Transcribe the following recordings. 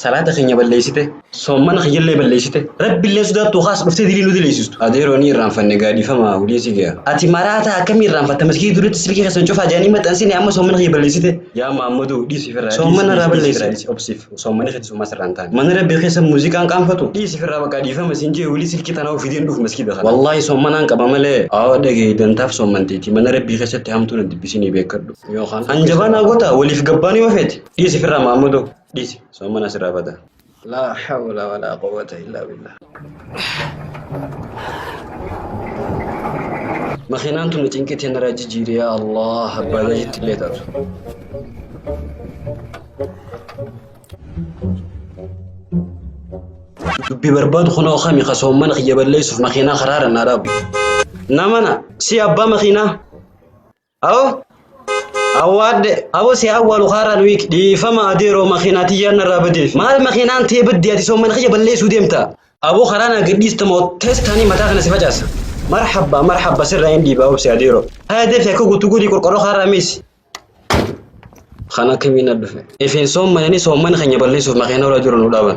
Salaata keenya balleessite, soommana kiyyallee balleessite, Rabbillee sodaattuu khaas dhuftee dilii nu dileessistu. Adeeroo ni irraanfanne gaa dhiifama wliisii kiya. Ati maraataa akkamii irraanfatta masgiida duratti silkii keessan cufaa jedhanii maxxansine amma soommana kiyya balleessite. Yaa Muhammadoo dhiisi firraa dhiisi Soommana irraa dhiisi dhiisi firraa balleessi. dhiisi obsiif soommani keetis homaa sirraa hin taane. Mana Rabbii keessa muuziqaan qaanfatu dhiisi firraa baqaa dhiifama siin jee wlii silkii tanaa uf fideen dhufu masgiida kana. Wallaahi soommanaan qaba malee awa dhagahi dantaaf soommanteeti mana Rabbii keessatti hamtuu na dibbisinii beekkadhu. Yookaan Hanjabaa naa gotaa waliif gabbaanuu yoo feete dhiisi firraa Muhammadoo. Dhisi sommana sirraa bada. Laa hawla walaa quwwata illaa billah. Makiinaan tun cinqii tee narraa jijjiiri yaa Allah abbaa jajitti illee taatu. Dubbi barbaadu kunoo kami ka soommana kiyya balleessuuf makiinaa karaara naa dhaabu. Namana si abbaa makiinaa. Awo awwaadde awo si awwaalu haaraan wiik dhiifama adeeroo makiinaa tiyyaan narraa badeef maal makiinaan tee baddee ati soomman kiyya balleessuu deemta aboo karaa naa gadhiista moo teestaanii mataa kana si facaasa marhabba marhabba sirraa hin dhiibaa obsi adeeroo haya deefi akka guutuu godhii qorqorroo haaraa miisi kan akka miina dhufe ifeen soommananii soomman keenya balleessuuf makiinaa irra jiru nu dhaaban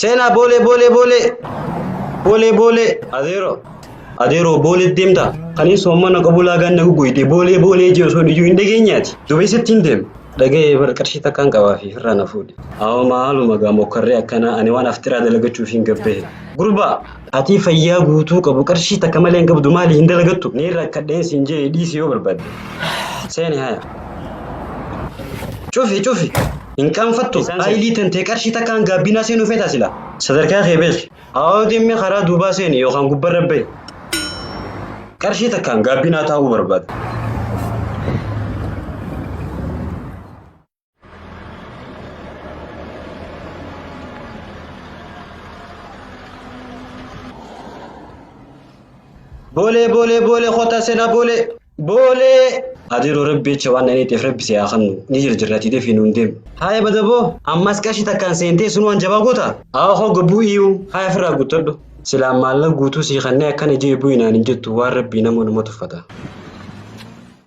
Seenaa boolee boolee boolee boolee boolee adeeroo adeeroo boolee deemta kanin soomana qabu laagaan na guguyde boolee boolee jee osoo iyyuu hin dhageenyaati dubeessatti hin deema dhaga'ee bar qarshii takkaan qabaa fi firraa na fuudhe. Hawa maaluma gaa mokkarree akkanaa ani waan aftiraa dalagachuuf hin gabbehe. Gurbaa Atii fayyaa guutuu qabu qarshii takka malee hin qabdu maali hin dalagattu? Niin rakkadheen siin jee dhiisi yoo barbaadde. Seeni haya. Cufi cufi. Hin qaanfattu. Isaan seeni. Aayilii tantee qarshii takkaan gaabbinaa seenuu feetaa sila. Sadarkaa kee beeki. Aawoo deemee karaa duubaa seeni yookaan gubbarra bahi. Qarshii takkaan gaabbinaa taa'uu barbaada. Boolee boolee boolee kota sena boolee boolee. Adiru rabbi jecha waan dhaniitiif rabbi si haa kennu ni jirjirrati defi nuun deemu. Haaya badaboo ammas qashi takkaan seentee sun waan jabaa goota. Haa hoo gabbuu iyyuu haaya ofirraa guuttadhu. Silaan maallaqa guutuu sii kannee akkana jee bu'inaan hin jettu waan rabbii nama dhuma tuffata.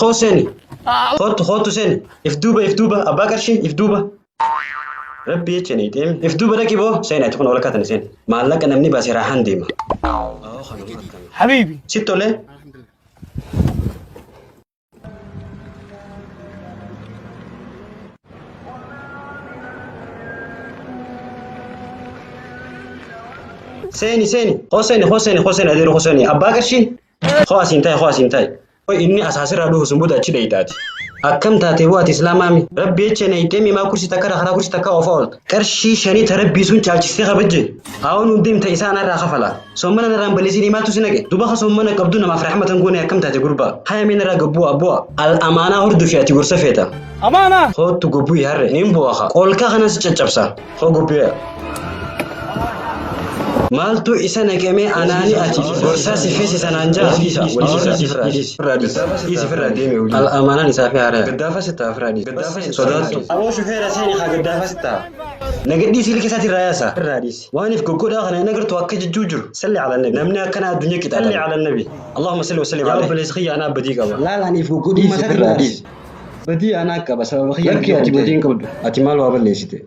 Hoo seeni. Kootu kootu seeni. If duuba if duuba abbaa qarshii if duuba. Rabbi jecha ni deemi. If duuba dhaqi boo seeni ati kun ol akkatan seeni. Maallaqa namni baasee raahan deema. Habiibi. Si tolee. seeni seeni hoo seeni hoo seeni hoo seeni adeeru hoo seeni abbaa qarshii hoo asiin taa'e hoo asiin taa'e hoo inni asaasirraa dhufu sun booda achi dheeytaati akkam taatee hoo ati islaamaami rabbi jecha na hiixee mimaa kursi takka karaa kursi takka oofaa oolta Qarshii shanii ta Rabbii sun caalchistee kabajje, haawoo nuun deemta isaa anarraa kafala. Soommana narraa hin balleesiinii maaltu si naqe? Duuba ka soommana qabdu namaaf rahmata hin goone akkam taate gurbaa? Haya mee narraa gad bu'aa bu'aa. Al amaanaa hordofi ati gorsa feeta. Amaana! Koottu gobbu'i harre niin bu'a ka. Qoolkaa kanan si caccabsa. Koo gobbu'ee. Maaltu isa naqemee anaani ati gorsaa si feesisa naan jaa. Irraa dhiisi. Dhiisi firraa deeme hojii. Al amaanaan isaa fi haaraya. Gaddaafa sitaa firaa dhiisi. sodaattu. Aboo shufeera seeni haa gaddaafaa sittaa. Nagadhii siili kesaati irraa yaasa. Irraa dhiisi. Waaniif goggodhaa kana hin agartu akka jijjuu jiru. Salli ala nabi. Namni akkana addunyaa qixaa. Salli ala nabi. Allahumma salli wa sallim alayhi. Yaa obboleessa kiyya anaa badii qaba. Laal aniif goggogummaa isaa irraa dhiisi. Badii anaa qaba sababa kiyya. Lakki ati badii hin qabdu. Ati maal waa balleessite?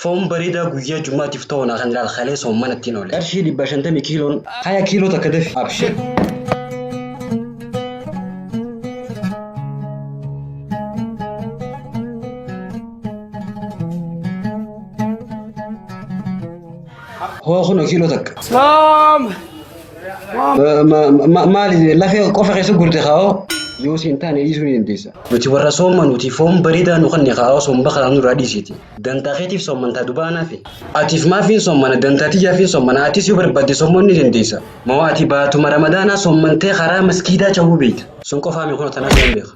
Foon bareedaa guyyaa jummaatiif ta'u naa kan ilaal kalee soomman ittiin oole. Qarshii dhibba shantamii kiiloon haya kiiloo takka dafi abshir. Hoo kunoo kiiloo takka. Soom! Maali lafee qofa keessa gurte kaa'oo yoo siin taane dhiisuu ni dandeessa. Nuti warra soomanuuti foon bareedaa nu kanne kaa'oo somba kanaa nurraa dhiisiti. Dantaa keetiif soomantaa dubaanaafi. Atiif maafiin soomana dantaa tiyyaafiin soomana atis yoo barbaadde soomuu ni dandeessa. Moo ati baatuma ramadaanaa soomantee karaa maskiidaa cahuu beekta. Sun qofaami kunoo tanas nan beeka.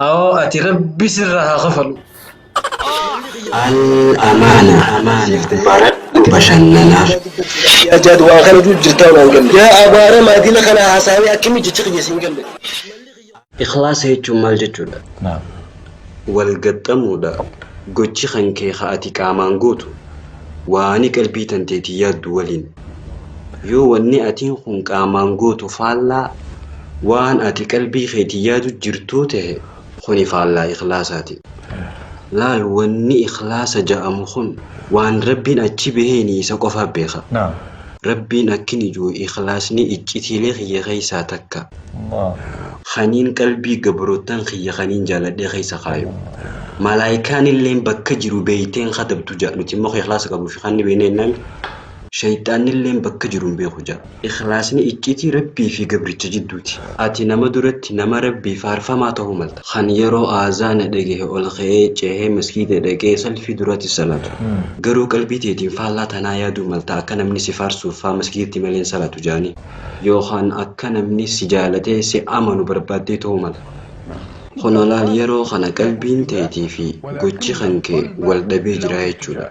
Awoo ati rabbi sirraa haa kafalu. Al-Amaana sitti baradhu bashannanaaf. Yaa jaad waan kana juu jirtaa waan galle. Yaa abaara maadina kana haasaawee akkami jecha kiyya siin galle. Ikhlaasa jechuun maal jechuudha? Naam. Wal gaxxamuudha. Gochi kan kee ka ati qaamaan gootu, waani qalbii tanteetiin yaaddu waliin. Yoo wanni atiin kun qaamaan gootu faallaa waan ati qalbii keetiin yaadu jirtuu tahe, kuni faallaa ikhlaasaati. Laal wanni ikhlaasa ja'amu kun waan Rabbiin achi baheeni isa qofa beeka. Naam. Rabbiin akkini ju'u ikhlaasni iccitiilee kiyya keessaa takka. Allaah. Kaniin qalbii gabroottan kiyya kaniin jaaladhee keessa kaayu. Malaaykaanilleen bakka jiru beeyteen katabdu ja'a. Nuti immoo ka ikhlaasa qabuu fi ka inni beeyne jennaan sheyxaannilleen bakka jiru hin beeku ja'a. Ikhlaasni iccitii Rabbii fi gabricha jidduuti. Ati nama duratti nama Rabbii faarfamaa tahuu malta. Kan yeroo aazaana dhagahe ol ka'ee cehee masgiida dhaqee salfii duraatti salaatu. Garuu qalbii teetiin faallaa tanaa yaaduu malta akka namni si faarsuuf faa masgiidatti malee hin salaatu ja'anii. yookaan akka namni si jaalatee si amanu barbaaddee ta'uu mala. Kana laal yeroo kana qalbiin teetii fi gochi kan kee wal dhabee jira jechuudha.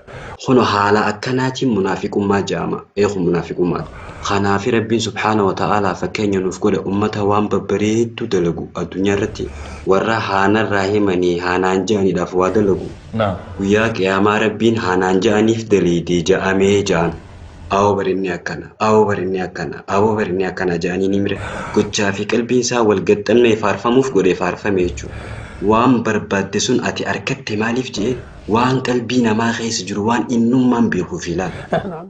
Kuno haala akkanaatiin munaafiqummaa ja'ama. Ee kun munaafiqummaadha. Kanaafi Rabbiin subhaanahu wa ta'aalaa fakkeenya nuuf godhe ummata waan babbareeddu dalagu addunyaa irratti warra haa narraa himanii haa naan ja'aniidhaaf waa dalagu Naam. guyyaa qiyaamaa Rabbiin haa naan ja'aniif daleeyde ja'amee ja'an. Awo barinni akkana, awo barinni akkana, awo barinni akkana ja'aniini mire gochaa fi qalbiin isaa wal gaxxannee faarfamuuf godhe faarfame jechu. Waan barbaadde sun ati arkatte maaliif je'een waan qalbii namaa keessa jiru waan innummaan beekuufi laal.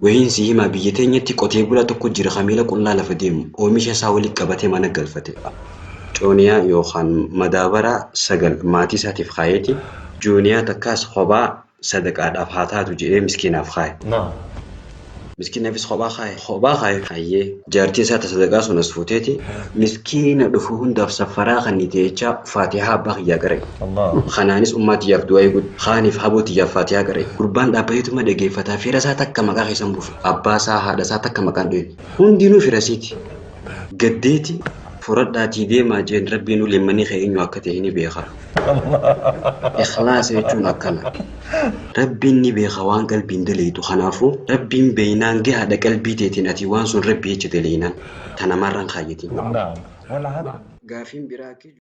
Wahiin si himaa biyya teenyatti qotee bulaa tokko jira ka miila qullaa lafa deemu oomisha isaa wali qabate mana galfate. Cooniyaa yookaan madaabara sagal maatii isaatiif kaayeeti, jooniyaa takkaas kophaa sadaqaadhaaf haa taatu jedhee miskiinaaf kaaye. Naam. Miskiinafis kophaa kaaye. Kophaa kaaye. Hayyee. Jaartii isaa ta sadaqaa sun as fuuteeti miskiina dhufu hundaaf saffaraa kannite jechaa faatihaa abbaa kiyyaa qara'i. Allahu. Kanaanis ummaa tiyyaaf du'aa'ii godhi. Kaaniif haboo tiyyaaf faatihaa qara'i. Gurbaan dhaabbateetuma dhageeffata fira isaa takka maqaa keessa hin buufne. Abbaa isaa haadha isaa takka maqaa hin dhoyne. Hundinuu fira isiiti. Gaddeeti furadhaatii deemaa jeen rabbiin uleemmanii kee eenyu akka ta'e ni beeka. Ikhlaasa jechuun akkana. Rabbiin ni beeka waan qalbiin daleeydu kanaafuu rabbiin beeynaan gahaadha qalbii teetiin ati waan sun rabbi jecha daleeynaan tana marra hin kaayyatiin. Gaafiin biraa akka.